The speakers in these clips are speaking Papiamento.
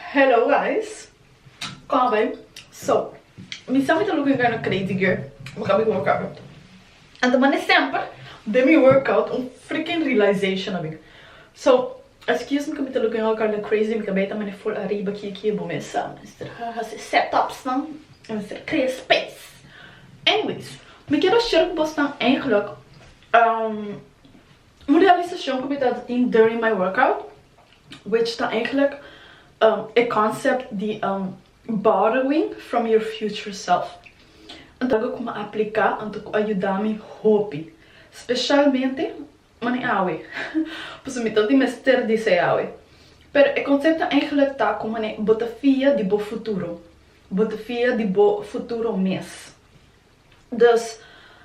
Hello guys Como bay? So Mi sa mi ta looking kind of crazy girl pa ka mi workout Anto mane semper den mi workout un freaking realization a bin So excuse mi cu mi ta looking all kind of crazy mi ta bay ta mane full ariba aki aki bo mester a mester hasi set ups nan a mester crea space Anyways mi quiero share cu bosnan eigenlijk umm Un realisashon ku mi tabata tin during my workout which ta eigenlijk e concept di borrowing from your future self algo ku mi a aplika anto ku a yuda mi hopi specialmente mane awe pasobra mi ta tin mester di esei awe pero e concept ta eigenlijk ta ku mane bo ta fia di bo futuro bo ta fia di bo futuro mes. Dus,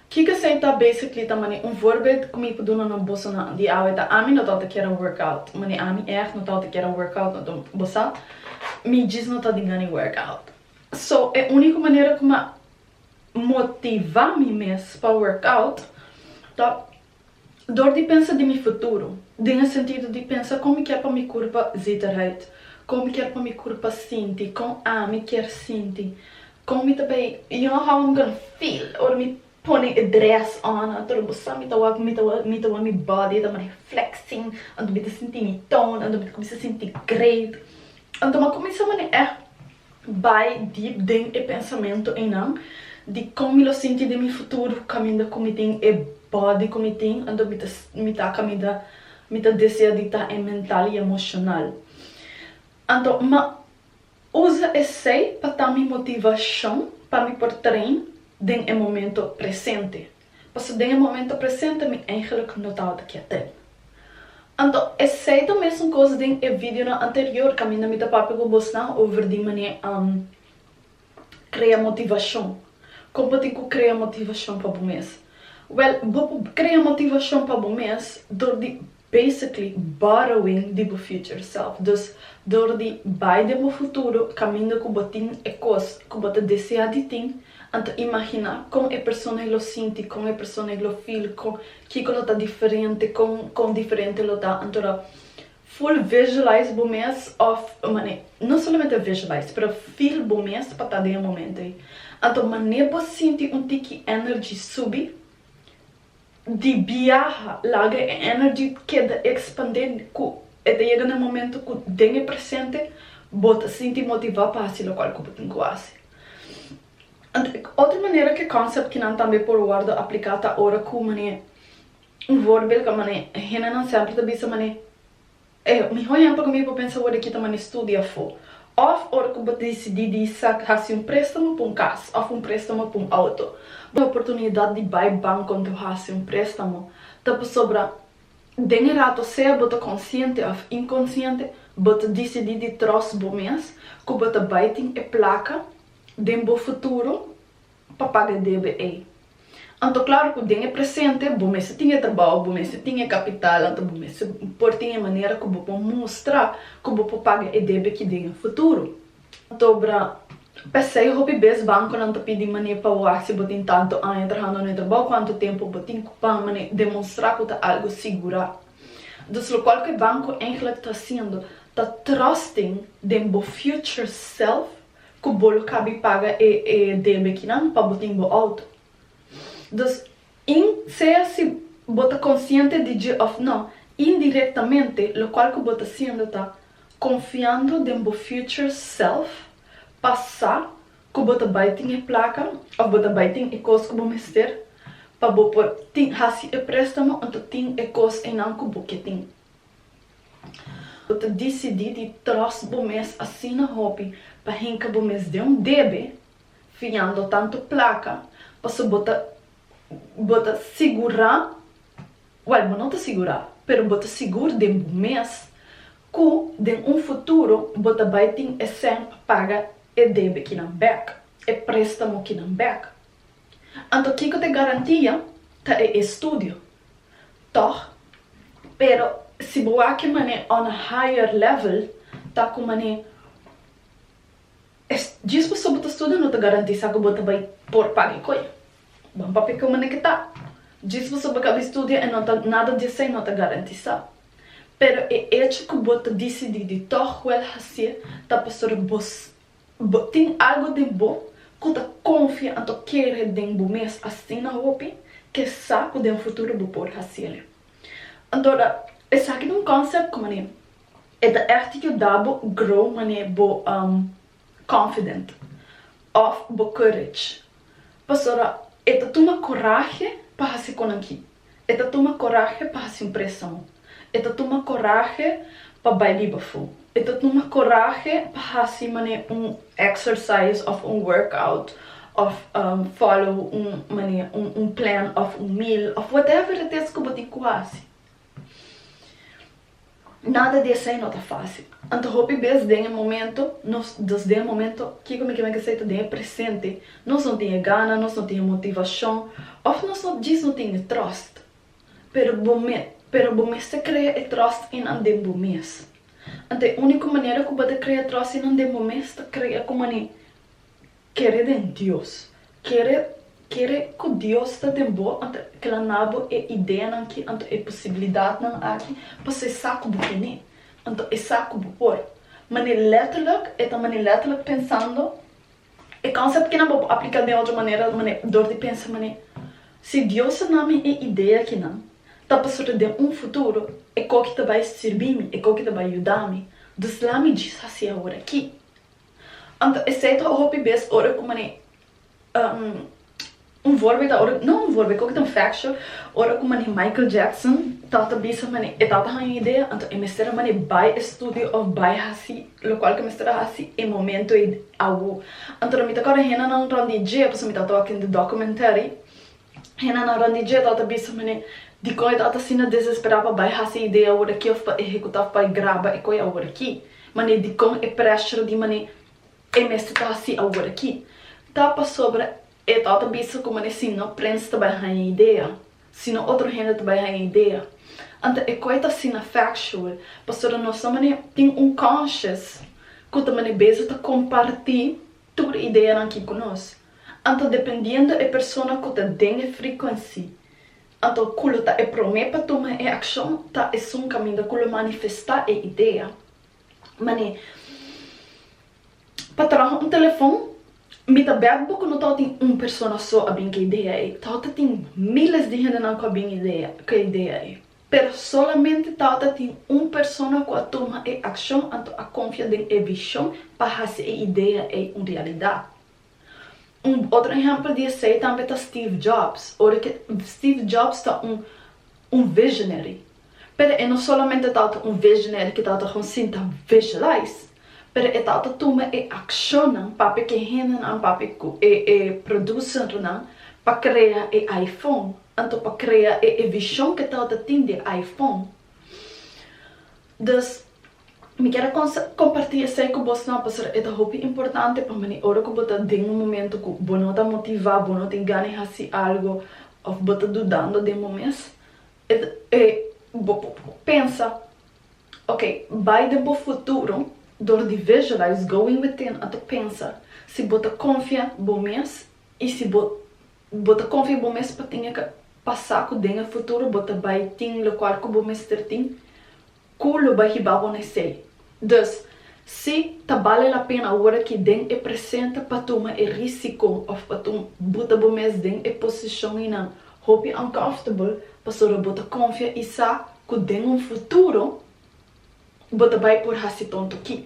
kiko esei ta basically ta mane un voorbeeld ku mi por duna na bosonan di awe ta ami no ta outa kier a work out mane ami erg no ta outa kier a work out no ta bo sa mi djis no ta di ngani work out so e uniko manera ku mi a motiva mi mes pa work out ta Dor di pensa di mi futuro, den e sentido di pensa kon mi kier pa mi kurpa zita raight, kon mi kier pa mi kurpa sinti, kon ami kier sinti, kon mi ta bay, you know how I'm gonna feel ora mi pone e dress on, anto lo bo sa mi ta wak mi ta wak mi ta wak mi body ta mari flexing, anto mi ta sinti mi tone, anto mi ta kumisa sinti great, anto mi a kumisa mane eh bai dip den e pensamento einan di kon mi lo sinti den mi futuro kaminda ku mi tin e body ku mi tin anto mi ta mi ta kaminda mi ta desea di ta e mental y emocional anto ma usa esey pa ta mi motivacion pa mi por train den e momento presente. pasobra den e momento presente mi eigenlijk no tabata kiet'é. Anto esei ta mesun kos den e videonan anterior, kaminda mi ta papia ku bosnan over di manera am krea motivashon. Kon bo tin ku krea motivashon pa bo mes? Wèl, bo por krea motivashon pa bo mes dor di Basically borrowing di bo future self. Dus dor di bai den bo futuro kaminda ku bo tin e kos ku bo ta desea di tin, an ta imaginá kon e personae lo sinti, kon e personae lo feel, kon kiko lo ta diferente, kon kon diferente lo ta. Antora full visualize bo mes òf mane no solamente visualize pero feel bo mes pa ta den e momento ei. Anto mane bo sinti un tiki energy subi di biaha laga e energy keda ekspandé ku e ta yega na e momento ku den e presente bo ta sinti motivá pa hasi lokual ku bo tin ku hasi. Otro manera ku e concept ki nan tambe por wòrdu apliká ta ora ku manera un vòrbeldka manera hendenan semper ta bisa manera. E mihó yam pa kominsa bo pensa wòrdu di kita mane studi afó, òf ora ku bo ta disidí di sa hasi un préstamo pa un kas òf un préstamo pa un outo. Bo oportunidat di bai bank konta bo hasi un préstamo ta pasobra den e rato, sea bo ta konsiente òf inkonsiente, bo ta disidí di tròst bo mes ku bo ta bai tin e plaka den bo futuro pa paga e debe ei. Anto klaru ku den e presente bo mester tin e trabou, bo mester tin e kapital, anto bo mester por tin e manera ku bo por mustra ku bo por paga e debe ki den e futuro. Anto'bra p'esei hopi bes bankonan ta pidi manera pa wak si bo tin tantu aña trahando na e trabou, kuantu tempu bo tin ku pa demonstrá ku ta algu sigurá. Dus lokual ku e banko eintlik ta hasiendo ta trusting den bo future self. Ku bo lo kabi paga e e debe kinan pa bo tin bo outo. Dus, in, sea si bo ta konsiente di dje òf nò, indirektamente lokual ku bo ta siendo ta konfiando den bo future self pa sa ku bo ta bai tin e plaka òf bo ta bai tin e kos ku bo mester pa bo por tin hasi e préstamo òto tin e kos einan ku bo ke tin. Bo ta disidí di tròst bo mes asina hopi pa hinka bo mes den un debe, fiando tantu plaka, pasobra bo ta bo ta sigurá, wèl, bo no ta sigurá, pero bo ta sigur den bo mes ku den un futuro bo ta bai tin e sèn pa paga e debe kinan bèk, e préstamo kinan bèk. Anto kiko ta e garantia? Ta e estudio. Tòg, pero si bo a ke man'é on a higher level, ta ku man'é e djis pasobra bo ta studia no ta garantisá ku bo ta bai por paga e koe. Ban papia ku man'é ke ta. Djis pasobra bo ka bin studia e no ta nada di esei no ta garantisá. Pero e echo ku bo ta disidí di tòg wèl hasié ta pasobra bo Bo tin algu den bo ku ta konfia anto kere den bo mes asina hopi? Ke sa ku den futuro bo por hasil'e? Anto ta esaki ta un konsèpt ku manera e ta ègt yuda bo grow manera bo confident òf bo courage. Pasobra e ta tuma kurahe pa hasi konanki E ta tuma korahe pa hasi un preson. E ta tuma korahe pa bai biba fu. E ta tuma korahe pa hasi mane un exercise of un workout of follow un mane un plan of un meal of whatever it is ku bo tin ku hasi. Nada di esei no ta fásil. Anto hopi bes den e momento nos nos den e momento kiko mi ke men ke sei ta den e presente nos no tin e gana, nos no tin e motivashon òf nos no djis no tin e tròst. Pero bo me pero bo mester krea e tròst einan den bo mes. Anto e úniko manera ku bo ta krea tròst einan den bo mes ta krea ku manera. Kere den Dios. Kere kere ku Dios ta den bo anto e plana bo, e ideanan ki anto e posibilidatnan aki pa ser sa ku bo kene, anto e sa ku bo por. Mane letterlijk, e ta mane letterlijk pensando. E concept kinan bo por aplica den otro manera mane dor di pensa mane, si Dios a na mi e idea kinan ta pasobra den un futuro e koki ta bai sirbi mi, e koki ta bai yuda mi, dus lami djis hasi awor aki. Anto esei ta hopi bes ora ku manera un vorbe ta ora no un vorbe koke ta un factual ora ku manera Michael Jackson ta ta bisa manera e tata haña idea anto e mester a manera bai e studio of bai hasi lokual ke mester a hasi e momento ei awo anto mi ta kòrda henda nan rònt di dje pasobra mi ta tok in de documentary Hena na Ranijé ta ota bisa manera dikon e ta ota asina desesperá pa bai hasi e idea awor aki òf pa ehekutá òf pa e graba e koi awor aki. Manera dikon e prèshra di manera e mester ta hasi awor aki ta pasobra e ta ota bisa ku manera si no prens ta bai haña e idea, si no otro hende ta bai haña e idea. Anto e koi ta asina factual pasobra nos ta manera tin un conscious ku ta manera beza ta kompartí tur ideanan aki ku nos. Anto dependiendo e persona cu ta den e frecuency, anto cu lo ta e prome pa tuma e accion ta esun caminda cu lo manifesta e idea. Mane, Pa traha un telefon, mi ta bet bo cu no tao tin un persona so a bin cu e idea ei, tao ta tin miles di hendenan cu a bin idea, cu e idea ei. Pero solamente tao ta tin un persona cu a tuma e accion anto a confia den e vision pa haci e idea ei un realidad. Un otro ehempel di esei tambe ta Steve Jobs. Ora ke, Steve Jobs ta un, un visionary. Pero e no solamente tabata un visionary ke tabata kon sinta visualize, pero e tabata tuma e akshonnan papia ku e hendenan, papia ku e, e producernan pa krea e iPhone, anto pa krea e, e vishon ke tabata tin di e iPhone. Dus. Mi kier a comparti esey cu bos nan pasobra e ta hopi importante pa mane ora cu bo ta den un momento cu bo no ta motiva, bo no tin gana di haci algo of bo ta dudando den bo mes bo por pensa ok bay den bo futuro door di visualize going within a ta pensa si bo ta confia bo mes y si bo bo ta confia bo mes pa tin e pasa cu den e futuro bo ta bay tin locual cu bo mester tin Ku lo bai hiba bo n'esei. Dus, si ta bale la pena ora ki den e presente pa tuma e risiko òf pa tun buta bo mes den e posishon i nan hopi uncomfortable pasobra bo ta konfia i sa ku den un futuro bo ta bai por hasi tonto ki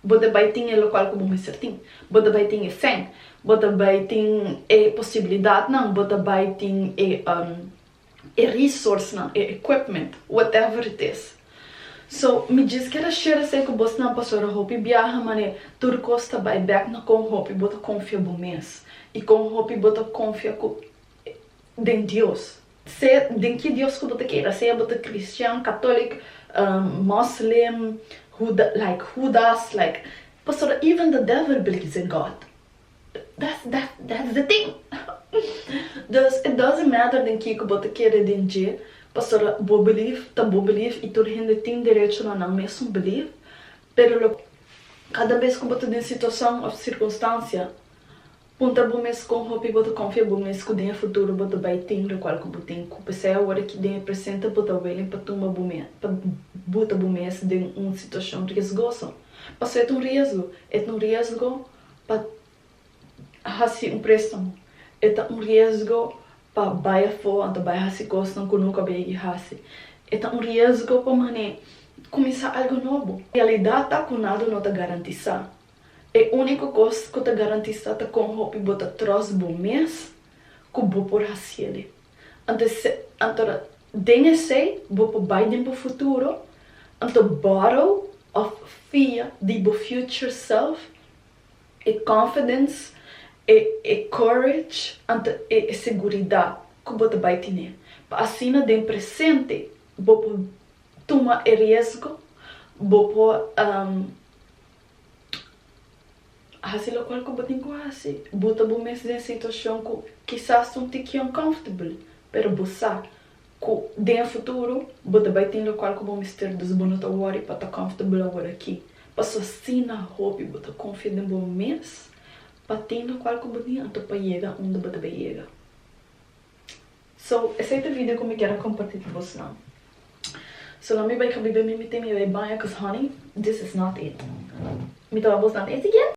bo ta bai tin e lokual ku bo mester tin, bo ta bai tin e fen, bo ta bai tin e posibilidatnan, bo ta bai tin e e resourcenan, e equipment, whatever it is. So, mi djis kier a share esei ku bosnan pasobra hopi biaha manera tur kos ta bai bek na kon hopi bo ta konfia bo mes i kon hopi bo ta konfia ku den Dios. Sea den ki dios ku bo ta keda, sea bo ta kristian, katolik, moslem, huda, like hudas, like, pasobra even the devil believes in God. That's that's that's the thing! Dus it doesn't matter den kico bo ta kere den dje, pasobra bo believe ta bo believe y tur hende tin derecho na nan mesun believe, pero lo cada bes cu bo ta den situacion of circunstancia, puntra bo mes con hopi bo ta confia bo mes cu den e futuro bo ta bay tin locual cu bo tin cu pesey awor aki den e presente bo ta willing pa tumba bo mes pa buta bo mes den un situacion riesgoso, pasobra et un riesgo, et un riesgo. Pa hasi un préstamo e ta un riesgo pa bai afó anto bai hasi kosnan ku nunka bai yegi hasi. E ta un riesgo pa man'é kuminsá algu nobo. Realidat ta ku nada no ta garantisá. E úniko kos ku ta garantisá ta kon hopi bo ta tròst bo mes ku bo por hasié lé. Anto anto den esei bo por bai den bo futuro, anto borrow of fia di bo future self, e confidence, e e courage, anto e e seguridat ku bo ta bai tine, pa asina den presente bo por tuma e riesgo, bo por. A hasi lokual ku bo tin ku hasi. Bo ta bo mes den situashon ku kisas ta un tiki uncomfortable, pero bo sa ku den futuro bo ta bai tin lokual ku bo mester, dus bo no ta wòri pa ta comfortable awor aki. Paso asina hopi bo ta konfia den bo mes pa tin lokual ku bo tin anto pa yega unda bo ta bai yega. So, esei ta video ku mi kier a komparti ku bosnan. So, la mi bai ka biba mi mi tin mi bai baña cuz honey, this is not it. Mi ta wak bosnan ta e siguiente.